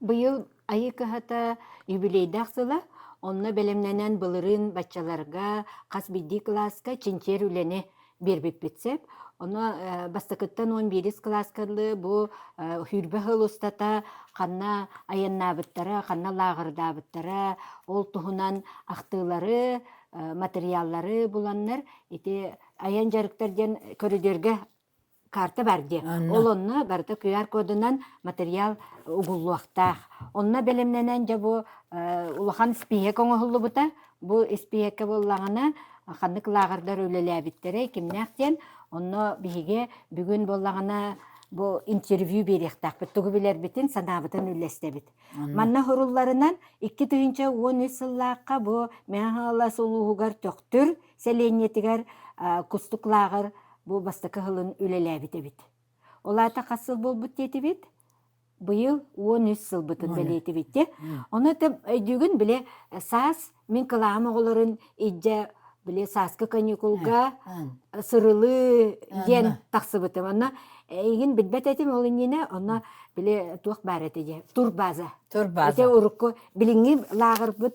Быйыл айыы кыһата юбилейдаах сыла, онно бэлэмнэнэн былырыын баччаларга хас биирдии кылааска чинчиэр үлэни биэрбиппит сөп. Ону бастакыттан он биирис кылааскалыы бу сүүрбэ сыл устата ханна айаннаабыттара, ханна лааҕырдаабыттара, ол туһунан ахтыылары, материаллары буланнар ити айан дьарыктар диэн көрүдүөргэ карта бар диэн ол онно барыта QR кодунан материал угуллуохтаах онно бэлэмнэнэн дьэ бу улахан испииһэк оҥоһуллубута бу испииһэккэ буоллаҕына ханнык лааҕырдар үлэлээбиттэрэй кимнээх диэн онно биһиги бүгүн буоллаҕына бу интервью биэриэхтээхпит тугу билэрбитин санаабытын үллэстэбит манна хорулларынан икки тыһыынча уон үс сыллаахха бу мэҥэ хаҥалас улууһугар төхтүр сэлиэнньэтигэр кустук лааҕыр бу бастакы сылын үлэлээбит эбит. Ол аата хас сыл буолбут диэтибит? Быйыл уон үс сылбытын бэлиэтибит. Ону өйдүүгүн бile саас мин кылаам оҕолорун ижде бile сааскы каникулга сырылыы диэн тахсыбытым. Онно игин билбет этим ол иннине онно бile туох баар эти же турбаза. Турбаза. Эти урукку билиҥҥи лааҕырбыт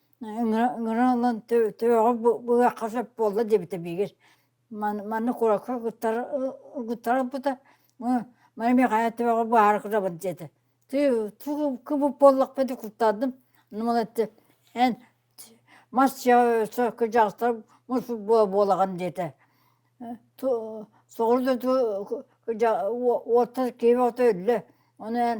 Ыҥыраллан төбөҕө быһахха сөп буолла диэбитэ биигир манна куоракка ыгыттарбыта маны мин хайа төбөҕө баара кырабын диэтэ кыбып буоллахпын дии куттаатым онон эттэ эн мас кырдьаҕастар муспут буолаҕын диэтэ соҕуруу да кырдьаҕас уоттар киһи оҕото өллө ону эн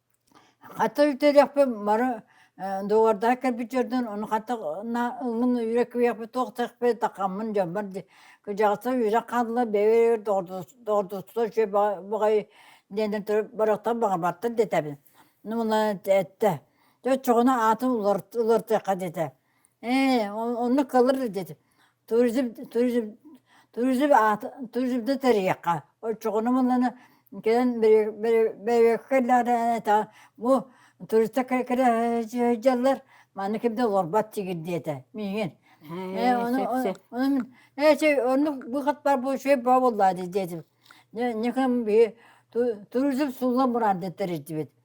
Хата үтэлэхпин бары дуобардаах кэлбит дьордон ону хата ыллын үөрэ күйэхпит туох тэхпит такаммын дьоммор кыдьаҕаса үөрэх хаалла бэйэбэр доҕордоссо үчүгэй баҕайы диэннэн туран барахсан баҕарбаттар диэтэбин ну мына эттэ оччоҕуна аатын уларытыахха диэтэ Ээ, оннук кылыр деди. Туризм туризм туризм аата туризмда тэрийиэххэ. Оччоҕуна муннана кэлэн бэйэккэ иллэҕинэ бу туристар кэлэр манна ким да олорбот тигир диэтэ миигин. Ээ ону ээ чэй оннук бу хат бар бу чэй баа буоллаа диэтим. Никам би туризм сулла мурандыттар ирдибит.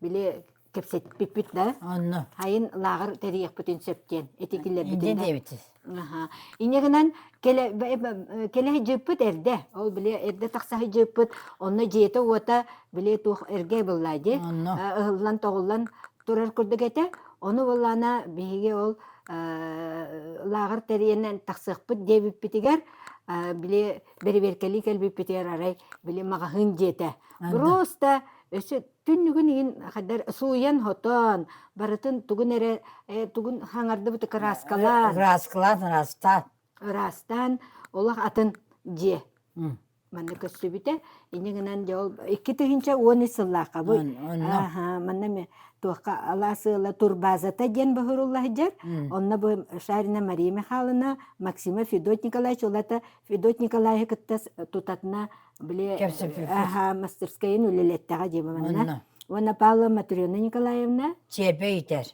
били кэпсэппиппит да онно айын лааҕыр тэрийэхпитин сөп диэн этитилэрбитин диэбитсиз аха инегинен кэлэ кэлэ дьыппыт эрдэ ол били эрдэ тахса дьыппыт онно дьиэте уота били туох эргэ быллаа ди ыһыллан тоҕуллан турар курдук этэ ону быллаана биһиги ол лааҕыр тэрийэнен тахсыахпыт диэбиппитигэр били бэрэбиэркэлии кэлбиппитигэр арай били маҕаһыын дьиэтэ просто өссө түннүгүн иһин хайдар сууйан хотон барытын тугун эрэ тугун хаҥардыбыт ырааскалаан ырааскалаан ыраастаан ыраастаан олох атын дьиэ манна көрсүбүтэ инньэ гынан дьэ ол икки тыһыынча уон ис сыллаахха бу манна туохха алаас ыала турбазата диэн быһырылла сылдьар онно бу шарина мария михайловна максима федот николаевич улата Федот Николаевы кытта тутатына били мастерскайын үлэлеттэҕэ дии манна. Уонна Павла Матрена Николаевна Чиэрбэ иитэр.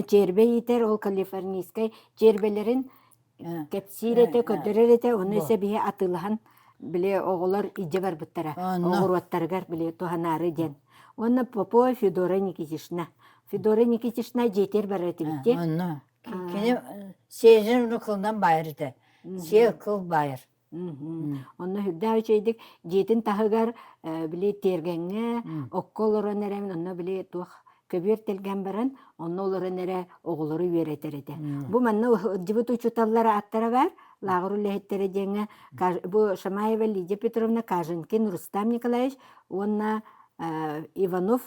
Чиэрбэ иитэр ол калифорнийскай чиэрбэлэрин кэпсиир этэ, көрдөрөр этэ, ону эсэ биһи атыылаһан били оҕолор илдьэ барбыттара оҕуруоттарыгар били туһанаары диэн. Уонна Попова Федора Никитишна. Федора Никитишна дьиэтигэр барар этибит Кини сиэжин уну кылынан баайар этэ. Сиэ кыл баайар. Онно үрдээх үчэйдик дьиэтин таһыгар били тиэргэҥҥэ окко олорон эрэбин онно били туох көбүөр тэлгэн баран онно олорон эрэ оҕолору үөрэтэр этэ. Бу манна ылдьыбыт учууталлар ааттара баар лааҕыр үлэһиттэрэ диэҥҥэ бу Шамаева Лидия Петровна Каженкин Рустам Николаевич уонна Иванов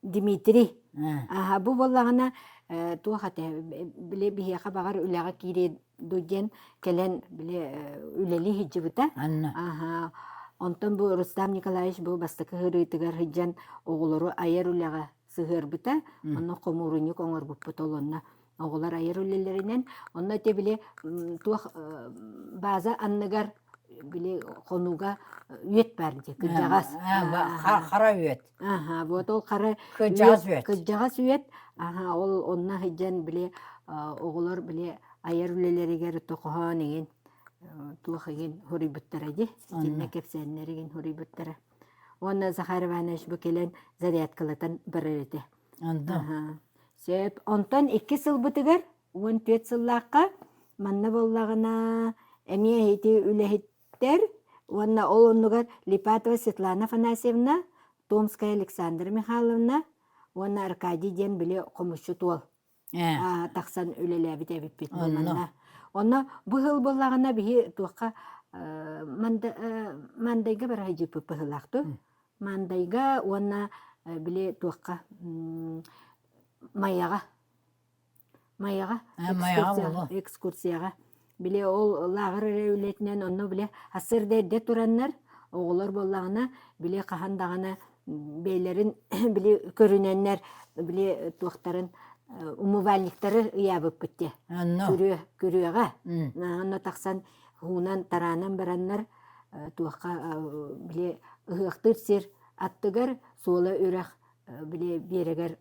Дмитрий аһа бу буоллаҕына э, туох ate били биһиэхэ баҕар үлэҕэ киириэ дуу диэн кэлэн били э, үлэлии сылдьыбыта. Анна. Аһа онтон бу Рустам Николаевич бу бастакы ыһырыытыгар сылдьан оҕолору айар үлэҕэ сыһыарбыта. Мм. Онно хомуурунньук оҥорбуппут олонно Оҕолор айар үлэлэринэн, онно те били туох база анныгар били хонууга үөт баар дии кырдьаҕас хара үөт аха вот ол хара кырдьаҕас үөт кырдьаҕас үөт аха ол онно сыдьан били оҕолор били айар үлэлэригэр тохоһоон игин туох игин хуруйбуттара ди итиннэ кэпсээннер игин хуруйбуттара уонна Захар Иванович бу кэлэн зарядкалатан барар этэ Сөп. Онтон икки сылбытыгар уон түөрт сыллаахха манна буоллаҕына эмиэ ити үлэһиттэр уонна ол оннугар Липатова Светлана Афанасьевна, Томская Александра Михайловна уонна Аркадий диэн били хомусчут уол тахсан үлэлээбит эбиппит манна онно бу сыл буоллаҕына биһи туохха мандайга бара сылдьыппыт быһыылаахтык мандайга уонна били туохха майаҕа майаҕа экскурсияҕа Били ол лааҕыр эрэ үлэтинэн онно били ассырда эрдэ тураннар, оҕолор буоллаҕына, били хаһан даҕаны бэйэлэрин били көрүнэннэр били туохтарын умывальниктары ыйаабыппыт те. Онно. Күрүө, күрүөҕэ. Онно тахсан хуунан, тараанан бараннар туохха били ыһыахтыыр сир аттыгар суола үрэх били биэрэгэр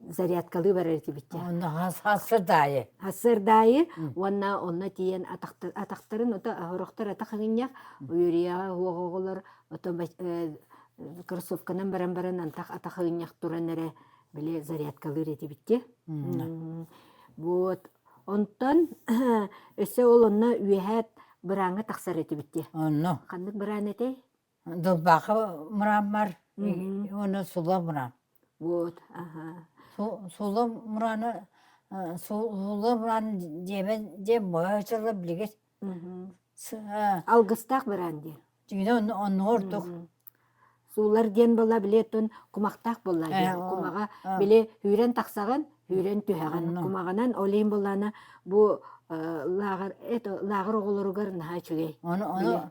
зарядкалыы барар этибиттэ онно сардаайы сардаайы уонна онно тиийэн атахтарын ото орохтор ата хагынньах уюрияҕа уоҕоҕолор ото кроссовканан баран баран антах атахыынньах туран эрэ били зарядкалыыр этибиттэ вот онтон өссө ол онно үөһээт бырааҥҥа тахсар этибиттэ онно ханнык быраан этэй Дылбаахы мырааммар уонна сула мыраам. Вот аха. Сула мырааны сула мырааны диэбэн диэн быһа ычалла билигит. Алгыстаах мыраан диэн. Дьиҥинэ оннуга ордук. Суулар диэн була биле тон кумахтаах була диэн. Кумаҕа били сүүрэн тахсаҕын, сүүрэн түһэҕин. Кумаҕынан олейн булана бу лааҕыр эт лааҕыр оҕолоругар наһаа үчүгэй. Ону ону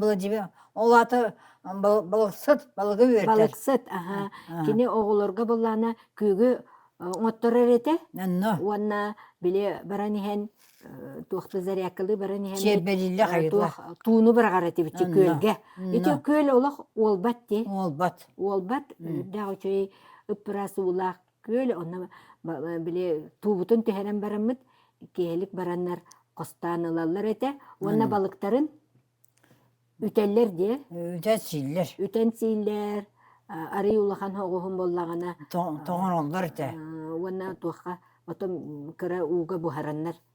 Владимир ол аата балыксыт балыгы үөртэр балыксыт аха кини оҕолорго буллаана күөгү оҥотторор этэ уонна били баран иһэн туохта зарядкалыы баран иһэн тууну быраҕар этибит күөлгэ ити күөл олох уолбат дии уолбат уолбат үрдээх үчүгэй ыппыраас уулаах Күөл онно били туубутун түһэрэн бараммыт, киэһэлик бараннар хостоон ылаллар этэ уонна балыктарын үтэллэр диэ. Үтэн сииллэр. Үтэн сииллэр, арый улахан оҕуһун буоллаҕына тоҥороллор этэ. Уонна туохха потом кыра ууга буһараннар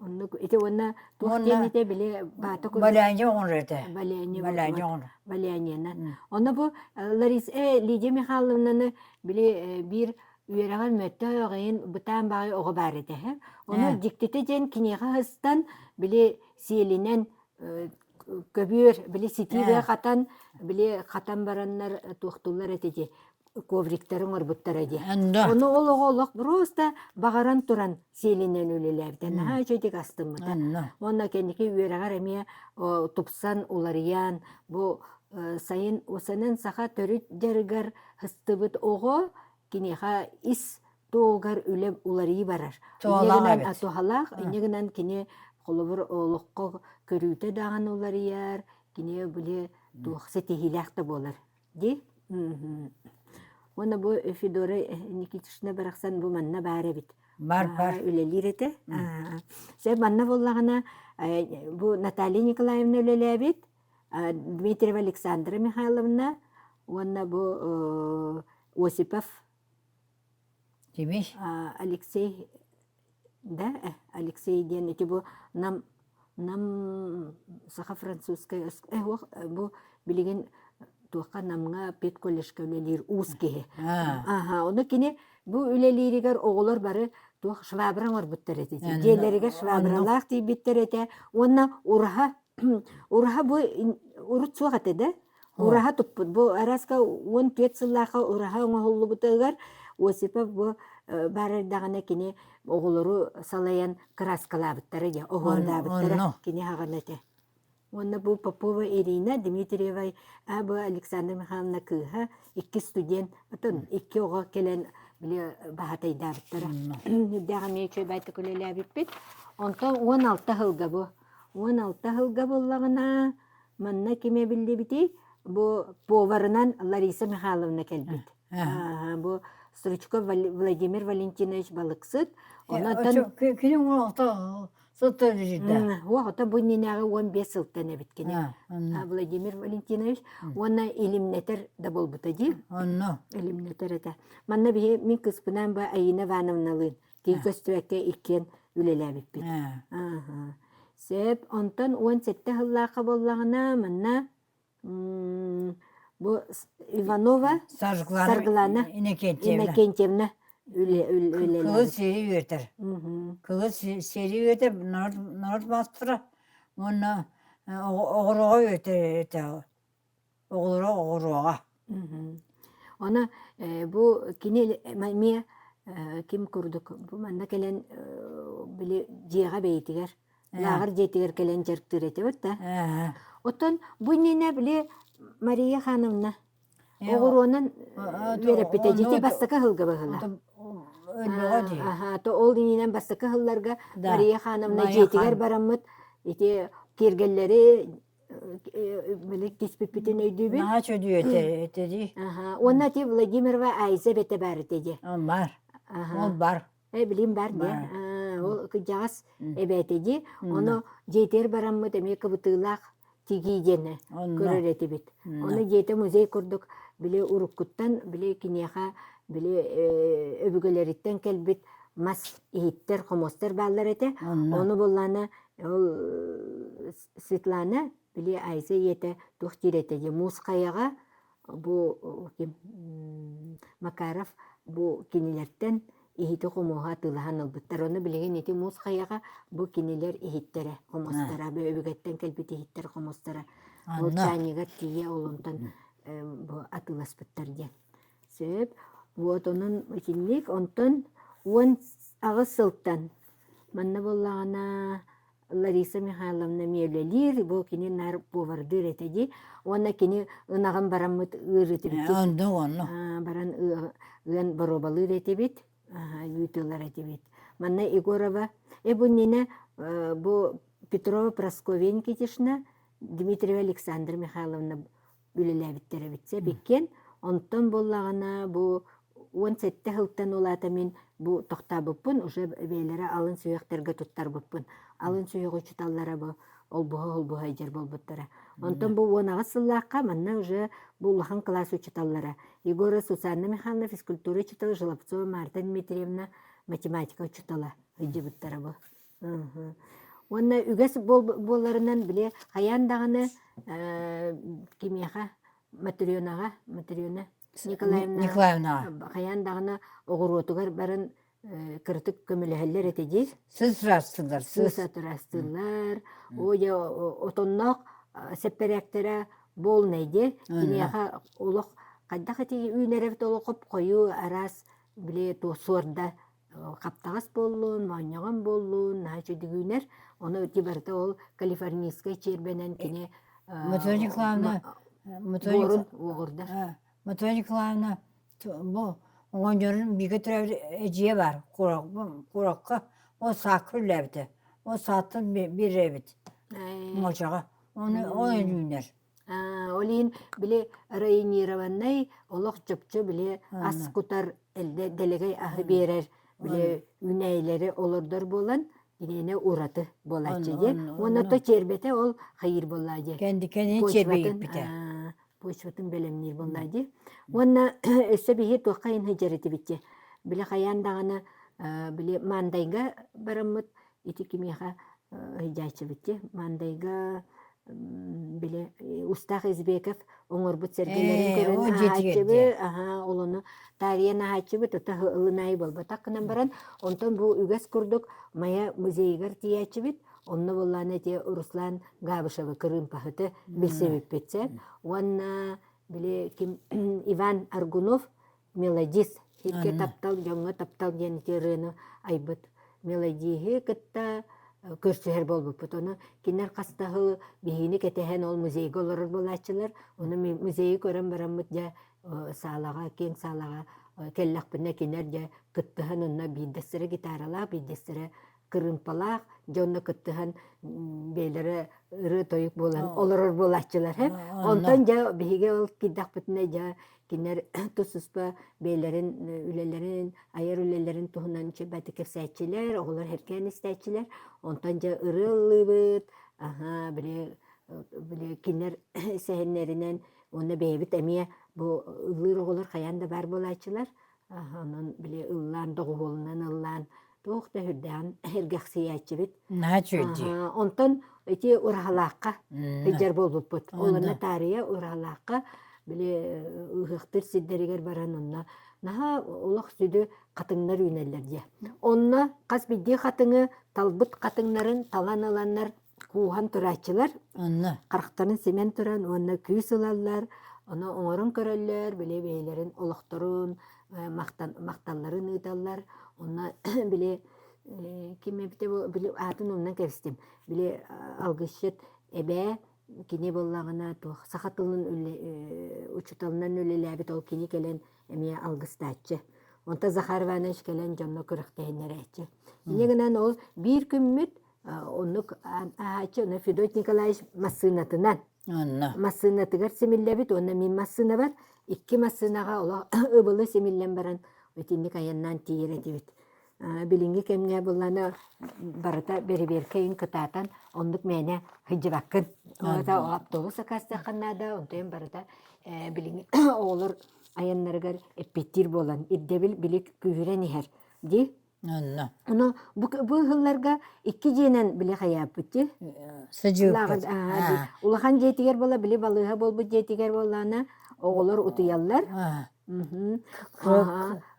Оннук ити уонна туох диэните били баата курдук Баляня оҕон этэ. Баляня Баляня оҕон. Балянянан. Онно бу Лариса Лидия Михайловнаны били биир үөрэҕэр мөттө оҕайын бытаан баҕай оҕо баар этэ. Ону дьиктитэ диэн киниэхэ ыстан били сиэлинэн көбүөр били ситиибэ хатан били хатан бараннар туохтуллар этэ дии. ковриктары оҥорбуттара дии. Да. Ону ол оҕо олох просто баҕаран туран сиэлинэн үлэлээбитэ. Наһаа үчүгэй астыммыта. Уонна кэнники үөрэҕэр эмиэ тупсан уларыйан бу сайын усанан саха төрүт дьарыгар ыстыбыт оҕо киниэхэ ис туолгар үлэ уларыы барар. Туһалаах, инньэ гынан кини холобур олоххо көрүүтэ даҕаны уларыйар, кини били туох ситиһиилээх да буолар. Ди уона бу Федора Никитична барахсан бу манна баар эбит. Бар бар. Үлэлиир этэ. Сэ манна боллагына бу Наталья Николаевна үлелээбит Дмитриева Александра Михайловна уонна бу Осипов Кими? Алексей да Алексей диэн ити бу нам нам саха-французскай э уох бу билигин туохха намҥа педколледжка үлэлиир уус киһи аха ону кини бу үлэлииригэр оҕолор бары туох швабра оҥорбуттар этэ дьиэлэригэр швабралаах тиийбиттэр этэ уонна ураһа ураһа бу урут суох этэ да Ураһа туппут. Бу араска уон түөрт сыллаахха ураһа оҥоһуллубутугар Осипов бу баарардаҕына кини оҕолору салайан кырааскалаабыттара дьэ, оһуордаабыттара кини хаҕана этэ. Уонна бу Попова Ирина, Дмитриева Аба Александра Михайловна кыыһа, икки студент, отон икки оҕо кэлэн били баһатайдаабыттара. Үрдээх эмиэ үчүгэй байтак үлэлээбиппит. Онтон уон алта сылга бу. Уон алта сылга буллаҕына Манна ким эбиллибитий? Бу поварынан Лариса Михайловна кэлбит. Бу Стручков Владимир Валентинович Балыксыт. Онон Күнүң оҕото сылтан жүрдэ. Оҕото бу нинээҕи он бес сылтан эбит кини. Владимир Валентинович уонна илимнэтер да болбута дии. Онно. Илимнэтер этэ. Манна биһи мин кыспынан ба Аина Ивановналыын тин көстүбэккэ иккиэн үлэлээбиппит сөп онтон уон сэттэ сыллаахха буоллаҕына манна бу иванова саргылана иннокентьевна кылы сири үөтэр кылы сири үөтэр норуот маастара уонна оҕороҕо үөтэр оҕолоро оҕороҕо Оны бу кини эмиэ ким курдук бу манна кэлэн били дьиэҕэ бэйэтигэр лааҕыр дьиэтигэр кэлэн дьарыктыыр этибит да оттон бу иннинэ били Мария ханымна оҕуруонан үөрэппитэ дьити бастакы ыһылга быһыла то ол иннинэн бастакы ыһылларга Мария ханымна дьиэтигэр бараммыт ити киэргэллэри Били киспиппитин өйдүүбүн. Маһа чөдүү этэ этэ дии. Аха. Уонна ти Владимирова Айза бэтэ баар этэ дии. Бар. Ол бар. Э билим бар дия. Ол кыдьаҕас эбээтэ дии. Ону дьиэтэр бараммыт эмиэ кыбытыылаах тигии диэни көрөр этибит. Ону дьиэтэ музей курдук били уруккуттан били киниэхэ били өбүгэлэриттэн кэлбит мас иһиттэр, хомостор бааллар этэ. Ону буллаана ол Светлана, били Айза ийэтэ туох диир этэ дии, муусхайаҕа бу ким Макаров бу кинилэртэн иһити-хомуоһу атыылаһан ылбыттар. Ону билигин ити муусхайаҕа бу кинилэр иһиттэрэ, хомустара, өбүгэттэн кэлбит иһиттэр хомустара молчаанньыгар тиийэ олунтан бу атыыласпыттар диэн. Сөп. Вот онон итинник. Онтон уон аҕыс сылтан манна буоллаҕына Лариса Михайловна миэлэлиир, бу кини наар повардыыр этэ дии. Уонна кини ынаҕын бараммыт ыарытыбытын онно онно баран ыан боруобалыыр этибит, ыытылар этибит. Манна Егорова, эбуннина бу Петрова Прасковья Никитишна, Дмитриева Александра Михайловна үлэлээбиттэр эбит сэбиккен онтон буоллаҕына бу уон сэттэ сылтан улаата мин бу тохтообуппун уже бэйэлэрэ алын сүһүөхтэргэ туттарбыппын алын сүһүөх учуталлара бу олбуһа олбуһа дьэр болбуттара онтон бу уон аҕыс сыллаахха манна уже бу улахан класс учуталлара егора сусанна михайловна физкультура учутала желобцова марта дмитриевна математика учутала ыйдыбыттара бу Уонна үгэс буолларынан били хайаан даҕаны кимиэхэ Матрёнаҕа Матрёна Николаевнаҕа хайаан даҕаны оҕуруотугар барын кыратык көмөлөһөллөр этэ диир. Сыз ыраастыыллар, сыз. ыраастыыллар. Ой, отонноох сэппэрээктэрэ буолнай диэ. Киниэхэ олох хайдах эти үүнэрэбит олох хоп-хойуу араас били суорда хаптаҕас буоллун, моонньоҕон буоллун, наһаа үчүгүйгүүнэр. Ону ити барыта ол калифорнийскай чиэрбэнэн кини Матрена Николаевна Моторик Мотрена Николаевна бу оҕонньорун бииргэ төрөөбүт эдьиийэ баар курокка ол саакка үллээбитэ ол сааттан биэрээбит модьаҕа оны ол үнүүнэр Ол иһин били районированный олох чопчу били ас кутар дэлэгэй аһы биэрэр били үүнээйилэри олордор буолан киниэне ураты буолааччы диэн уонна то чиэрбэтэ ол хайыыр буоллаа дии кэндикэнин чиэрбэйиппитэ почватын бэлэмниир буоллаа дии уонна өссө биһи туохха иһин сыдьарытибитчи били хайаан даҕаны били мандайга бараммыт ити кимиэхэ иһдьээччибитти мандайга били устаах избеков оҥорбут сэргэлэрин көрөн аһааччыбы олону таарыйан аһааччыбы тута ылынаайы болботак гынан баран онтон бу үгэс курдук мая музейыгар тиийээччибит онно боллаан эти руслан габышевы кырыымпаһыты билсибиппитсен уонна били ким иван аргунов мелодист ити таптал дьоҥҥо таптал диэн ити ырыаны айбыт мелодиһы кытта көрсүһэр буолбуппут ону кинилэр хастаһы биһиини кэтэһэн ол музейга олорор буолааччылар ону музейы көрөн бараммыт дьэ саалаҕа киэҥ саалаҕа кэллэхпинэ кинилэр дьэ кыттыһан онно биирдэстэрэ гитаралаах биирдэстэрэ кырыымпалаах дьонно кыттыһан бэйэлэрэ ырыа-тойук буолан олорор буолааччылар һэ онтон дьэ биһиги ол киирдэхпитинэ дьэ кинилэр тус-туспа бэйэлэрин үлэлэрин айар үлэлэрин туһунан чэбэти кэпсээччилэр оҕолор эркээн истээччилэр онтон дьэ ырыа ыллыыбыт аһа били били кинилэр сэһэннэринэн уонна бэйэбит эмиэ бу ыллыыр оҕолор хайаан да баар буолааччылар онон били ыллаан доҕуһуолунан ыллаан туох да үрдээн эргэхсийээччибит онтон ити ураһалаахха ыйдьар буолбуппут ол онно таарыйа ураһалаахха били ыһыахтыыр сирдэригэр баран онно наһаа олох сүдү хатыҥнар үүнэллэр дии онно хас биирдии хатыҥы талбыт хатыҥнарын талан ыланнар кууһан турааччылар онно харахтарын симэн туран уонна күүс ылаллар ону оҥорон көрөллөр били бэйэлэрин олохторун махталларын ыыталлар онно били ким эбитэ били аатын умнан кэбистим били алгысчыт эбээ кини буоллаҕына туох саха тылын учууталынан үлэлээбит ол кини кэлэн эмиэ алгыстааччы онто Захар Иванович кэлэн дьонно күрэхтэһиннэрээччи ини гынан ол биир күммүт оннук ааһааччы онно Федот Николаевич массыынатынан массыынатыгар симиллэбит уонна мин массыынабар икки массыынаҕа олох ыбылы симиллэн баран итинник айаннаан тиийэр этибит билиҥҥи кэмҥэ булланы барыта бэрэбиэркэйин кытаатан оннук мээнэ сылдьыбаккын автобус акаастыаххын наада онтон барыта билиҥҥи оҕолор айаннарыгар эппиэттиир буолан ирдэбил били күүһүрэн иһэр дии Онно. Ону бу бу ыһылларга икки дьиэнэн били хайааппыти. Сыдьыыппыт. Улахан дьиэтигэр була били балыыһа буолбут дьиэтигэр буоллаана оҕолор утуйаллар.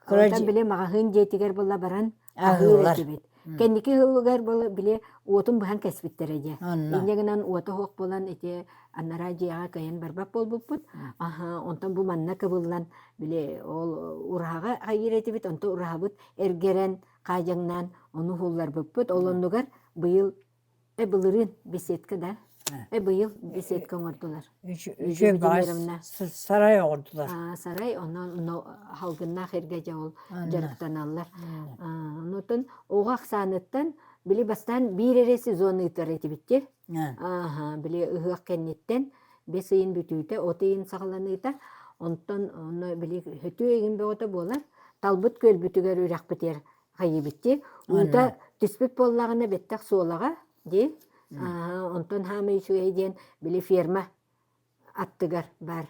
Оттон били маҕаһыын дьиэтигэр була баран аһыыр этибит. Кэнники ыһыллыгар була били уотун быһан кэспиттэрэ дьэ. Инньэ гынан уота оһох булан ити анараа дьиэҕэ кыайан барбат буолбуппут аһаа онтон бу манна кыбыллан били ол ураһаҕа хайыыр этибит онто ураһабыт эргэрэн хаадьаҥнаан ону уһулларбыппыт ол оннугар быйыл э былырыын беседка да э быйыл беседка оҥордулар үтүө сарай оҥордулар сарай онно халгыннаах эргэ дьэ ол дьарыктаналлар онтон оҕо ахсааныттан били бастаан биир эрэ сезон ыытар этибит те Ааһа, били ыһыах кэнниттэн бэс ыйын бүтүүтэ от ыйын саҕаланыыта, онтон онно били хөтүү ыйын бөҕөтө буолар, талбыт күөлбүтүгэр үрэхпитигэр хайыыбыттыы, уута түспүт буоллаҕына бэттэх суолаҕа дии, онтон хаамай үчүгэй диэн били ферма аттыгар баар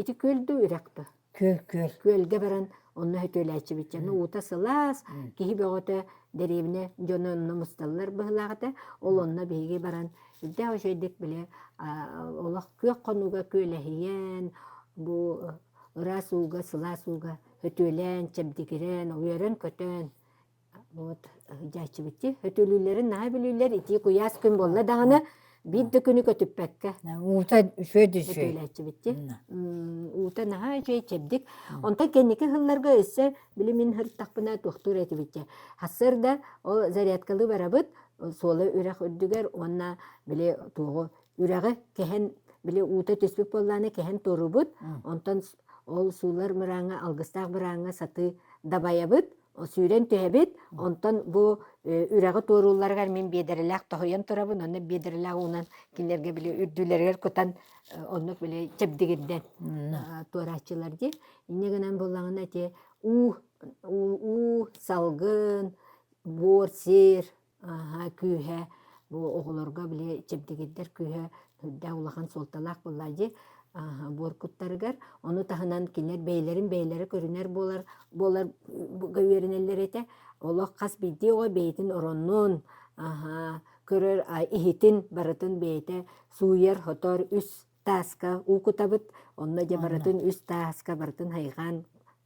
ити күөл да үрэх да күөл күөл күөлгэ баран онно сөтүөлээччибитчэни уута сылаас киһи бөҕөтө дэриэбинэ дьоно онно мусталлар быһылаах этэ ол онно биһиги баран ирдээх үчэйдик били олох күөх хонууга күөлэһийэн бу ыраас ууга сылаас ууга сөтүөлээн чэбдигирэн уйаран көтөөн вот дьээччибитти өтүлүүлэрин наһаа билиилэр итии куйаас күн буолла даҕаны биир да күнү көтүппэккэ уута үчүгэй да үчүгэй өтүлээччибитти уута наһаа үчүгэй чэбдик онтон кэнники сылларга өссө били мин сырыттахпына туохтуур этибитчэ сарсыарда ол зарядкалыы барабыт суола үрэх үрдүгэр уонна били туоҕу үрэҕи кэһэн били уута түспүт буоллааны кэһэн турубут онтон ол суулар мырааҥҥа алгыстаах бырааҥҥа сатыы дабайабыт сүүрэн түһэбит, онтон бу үрэҕи туоруулларыгар мин биэдэрэлээх тоһуйан турабын, онно биэдэрэлээх уунан кинилэргэ били үрдүүлэригэр кутан оннук били чэбдигирдэн туорааччылар дии. Инньэ гынан буллаҕына ити уу, уу, уу салгын, буор, сир, күүһэ бу оҕолорго били чэбдигирдэр күүһэ үрдээх улахан суолталаах буолла дии буор куттарыгар ону таһынан кинилэр бэйэлэрин бэйэлэрэ көрүнэр буолар буолар үөрэнэллэр этэ олох хас биирдии оҕо бэйэтин ороннуун көрөр иһитин барытын бэйэтэ сууйар хотоор үс тааска уукутабыт онно дьэ барытын үс тааска барытын хайҕаан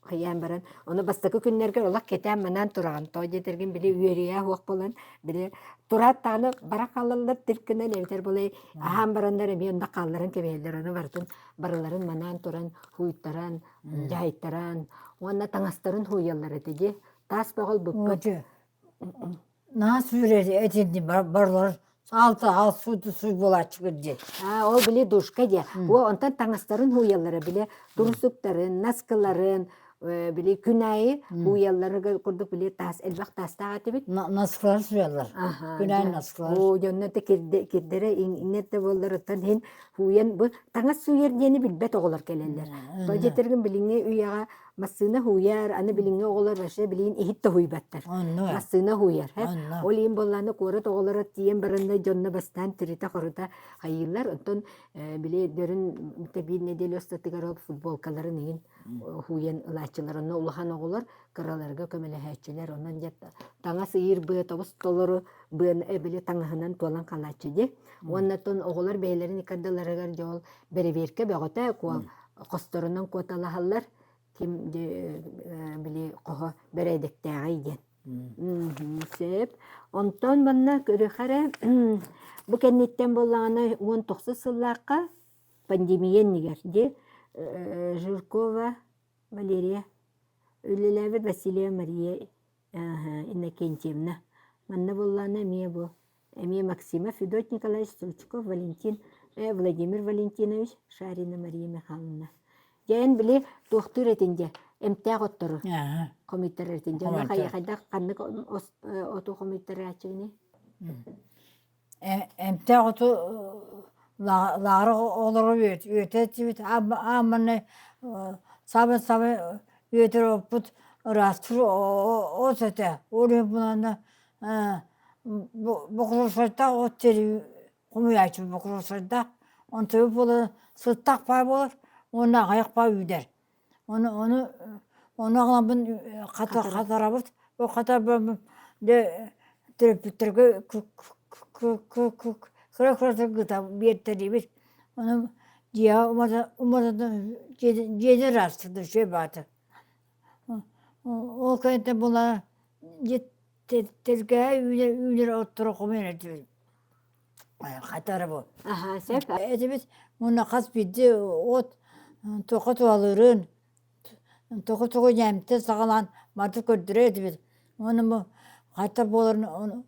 хайаан баран ону бастакы күннэргэ олох кэтээн манаан тураҕын тоо диэтэргин били үөрүйэх уох болон били турааттааны бара хаалаллар тиркинэн эбэтэр былай аһаан бараннар эмиэ онно хаалларан кэбиһэллэр ону барытын барыларын манаан туран хуйтаран дьаайтаран уонна таҥастарын һууйаллар этэ дии таас бөҕөл букка Наа сүүрэри этинни барлар алта аал сууту суй буолааччыгыр дии. Ол били душка диэн. Онтон таҥастарын һууйаллара били турусуктарын, наскыларын, били күн аайы һууйалларын курдук били таас элбэх таастаах этибит. Наскылар сууйаллар. Күн аайы наскылар. Оо дьонно да кирдэрэ иҥнэрдэ буолларыттан иһин һууйан бу таҥас сууйар диэни билбэт оҕолор кэлэллэр. Бу дьитэргин билиҥҥи үйэҕэ массыына һууйар, аны билиҥҥи оҕолор вообще билигин иһит тоһуйбаттар. Онно. Массыына һууйар. Онно. Ол иһин буоллаана куорат оҕолоро тиийэн бараннай дьонно бастаан тиритэ-хорута хайыыллар. Оттон били дөрүн тэбиир нэдиэлэ устатыгар ол футболкаларын иһин һууйан ылааччылар. Онно улахан оҕолор кыраларга көмөлөһөөччүлэр. Онон дьэ таҥас ыйыыр быа тобус толору быан били таҥаһынан туолан хаалааччы дии. Уонна оттон оҕолор бэйэлэрин икардаларыгар дьол Бэрэбиэркэ бөҕөтө куо хосторунан куоталаһаллар ким били хоһо бэрээдэктээҕий диэн сөп онтон манна көрүхэ эрэ бу кэнниттэн буоллаҕына уон тохсус сыллаахха пандемия иннигэр ди Жиркова Валерия үлэлээбит Василия Мария Иннокентьевна манна буоллаҕына эмиэ бу эмиэ максимов федотник николаевич стручков валентин владимир валентинович шарина мария михайловна дьэ эн били туохтуур этин дьэ эмтээх оттору хомуйтарар этин дьэ ону хайдах ханнык оту хомуйтарааччыгыный эмтээх оту лааҕыр олору үөтэччибит аамманны сабын сабын үөтөр оппут ыраастыр ос этэ ол иһин буланна Бокуруосарда от сири хомуйааччы бокуруосарда онтубу буолан сыттах баар буолар уонна аҕыйах баар үүнэр ону ону ону аҕалабын хатарабыт ол хатарбаммын дьэ төрөппүттэргэ кыра кыратык ыыта биэртэриибит ону дьиэҕэ уматан дьиэнэ ыраастыыр да үчүгэй баатар Ол кэнтэ була тиргэ үүнэр отторохумун этибит хатары бу этибит муна хас биирдии от тоҕо туалырын тоҕо тоҕо ньэмтэ саҕалаан манты көрдөрөр этибит уонна бу хата буоларын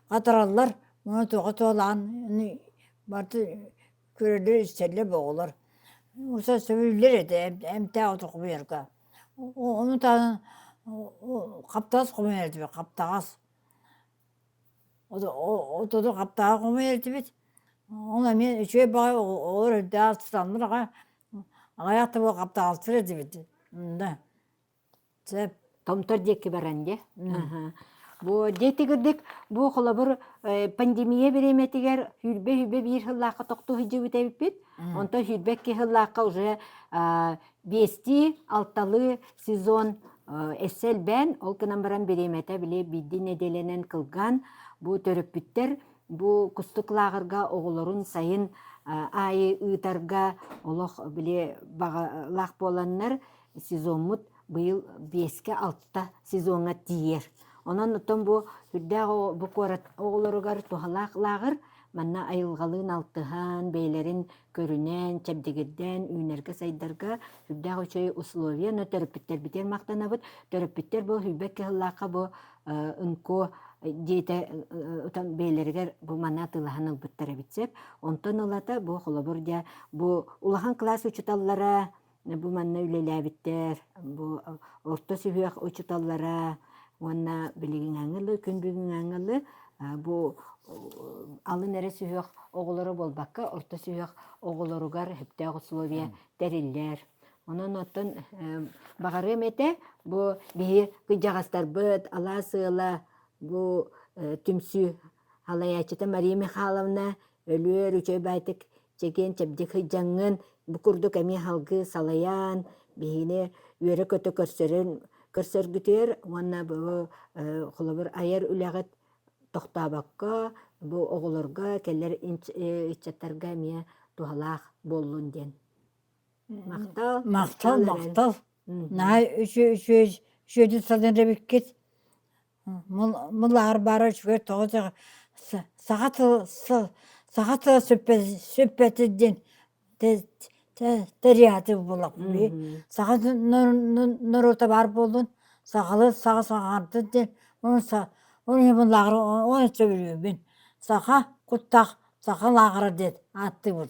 хатараллар муну тоҕо туолаан барыта көрөлөр-истэллэр бу оҕолор сосуллар этэ эмтээх ото хомуйарга ону таһынан хаптас хомуйар этибит хаптаҕас отону хаптаҕас хомуйар этибит ол эмиэ үчүгэй баҕайы оҕолор эрдэ астыннар аҕай аҕай аттыбыл хаптаҕастар этибит да Чэ, Томтор диэки баран дьэ, аһа, бу дьэ итигирдик бу холобур э, пандемия бириэмэтигэр сүүрбэ-сүүрбэ биир сыллаахха тохтуу сылдьыбыт эбиппит. Онтон сүүрбэ икки сыллаахха уже а, биэстии, алталыы сезон э, өссө элбээн, ол гынан баран бириэмэтэ били биирдии нэдиэлэнэн кылгаан бу төрөппүттэр бу кустук лааҕырга оҕолорун сайын а, аайы ыытарга олох били баҕалаах буоланнар сезоммут быйыл биэскэ-алта сезоҥҥа тиийэр. Онон оттон бу үрдээх бу куорат оҕолоругар туһалаах лааҕыр манна айылҕалыын алтыһан, бэйэлэрин көрүнэн, чэбдигирдээн үүнэргэ-сайдарга үрдээх үчүгэй условия, но төрөппүттэрбитигэр махтанабыт. Төрөппүттэр бу Хүйбэк кыһыллаахха бу НКО дьиэтэ бэйэлэригэр бу маны атыылаһан ылбыттар эбит сөп. Онтон ылата бу холобур дьэ бу улахан класс учууталлара бу манна үлэлээбиттэр бу орто сүһүөх учууталлара уонна билигиҥҥи дылы күн бүгүҥҥү дылы бу алын эрэ сүһүөх оҕолоро буолбакка орто сүһүөх оҕолоругар сөптөөх условия тэриллэр онон оттон баҕарыам этэ бу биһи кыдьаҕастарбыт алаас ыала бу түмсүү халайааччыта Мария Михайловна өлүөр үчүгэй баайтык чэгиэн чэбдик сыдьаҥҥын бу курдук эмиэ салгыы салайаан биһини үөрэ-көтө көрсөрүн көрсөргүтүөр уонна бу холобур айар үлэҕит тохтообокко бу оҕолорго кэлэр ыччаттарга эмиэ туһалаах буоллун диэн махтал махтал махтал наһаа үчү үчү үчүөдүн санаабиккит Мылаар бары үчүгэй тоҕо дьэ саха тыла саха тыла сүппэтин тэрийээти буллахпыы саха норуота баар буоллун сахалыы саха саҥардын диэн ону мылааҕар ону сөбүлүүбүн саха куттах саха лааҕыра диэн ааттыыбын